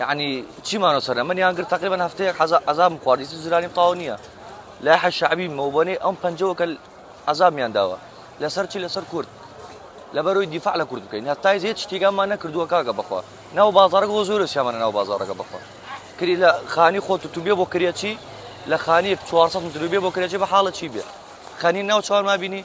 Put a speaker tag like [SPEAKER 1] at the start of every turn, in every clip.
[SPEAKER 1] یەعنی چی مانۆ سەرە منیان گرت تقریبا هەفتەیە حەزا عذابم خواردی زرانی تاو نییە لە حە شعبی مەوبەنەی ئەم پنجەوەکە عذابیان داوە لەسەر چی لەسەر کورد لەبەرۆی دیفاع لە کورد بکەین هەتای زێت شتێکمان نەکردووە کاگە بخوا ناو بازارەکە بۆ زۆر سیامانە ناو بازارەکە بخوا کری لە خانی خۆت و توبێ بۆ کرێچی لە خانی 400 متروبێ بۆ کرێچی بە حاڵە چی بێ خانی ناو چوار ما بینی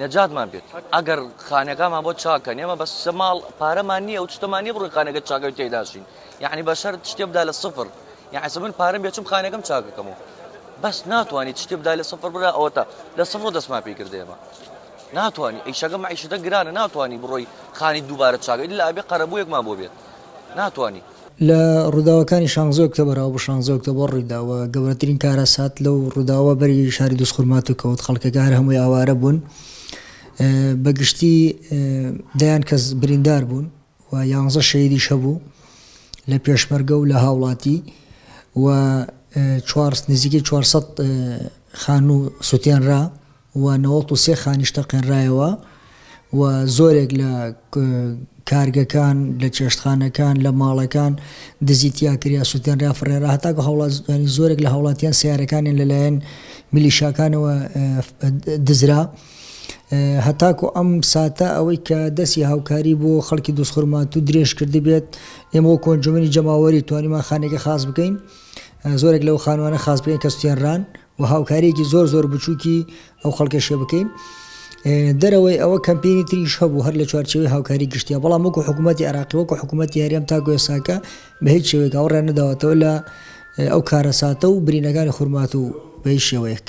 [SPEAKER 1] نەجاتمان بێت ئەگەر خانەکانمان بۆ چاک کەن ئێمە بەس شتە ماڵ پارەمان نییە و شتەمان نیە بڕۆین خانەکە چاکەوی تێداشین یعنی بە شەرت شتێ بدا لە سفر یعنی من پارەم بێچم خانەکەم چاکەکەمەوە بەس ناتوانیت شتێ بدا لە سفر برا ئەوەتا لە سفر و دەستمان پێ کرد ئێمە ناتوانانی ئیشەکە معیشتە گرانە ناتوانانی بڕۆی خانی دووبارە چاکەی لە ئابێ قەرەبوویەکمان بۆ بێت ناتوانانی لە
[SPEAKER 2] ڕووداوەکانی شانزە ئۆکتۆبەر ئەو شانزە ئۆکتۆبەر ڕوویدا و گەورەترین کارەسات لەو ڕووداوە بەری شاری دووزخور ماتو کەوت خەڵکەکە هەر هەمووی ئاوارە بوون بە گشتی دەیان کەس بریندار بوون و یانزە شەیدیش هەبوو لە پێشمەرگە و لە هاوڵاتی و چوار نزیکەی 400 خانوو سوتێنرا و نەوەد و سێ خانیش تەقێنرایەوە و زۆرێک لە کارگەکان، لە چێشتخانەکان، لە ماڵەکان دزی تیا کریا، سوتێنرا، فڕێنرا، هەتاکو هاوڵاتیانی زۆرێک لە هاوڵاتیان سەیارەکانیان لەلایەن میلیشاکانەوە دزرا. هەتاکو ئەم ساتە ئەوەی کە دەستی هاوکاری بۆ خەڵکی دوستخورماتوو درێژ کردبێت ئێمە وەکو ئەنجومەنی جەماوەری توانیمان خانێکی خاس بکەین زۆرێک لەو خانوانە خاس بکەین کە سوتێنران و هاوکاریەکی زۆر زۆر بچوکی ئەو خەڵکەشە بکەین دەرەوەی ئەوە کەمپینی تریش هەبوو هەر لە چوارچەوەی هاوکاری گشتیا بەڵام وەکو حکوومەتتی عراقی وەکو حکوومەتتی هەرێم تاکو ێساکە بە هیچ شێوەیە گەڵڕێن نەداوەتەوە لە ئەو کارەساتە و برینەکانی خورمات و بەی شێوەیەک.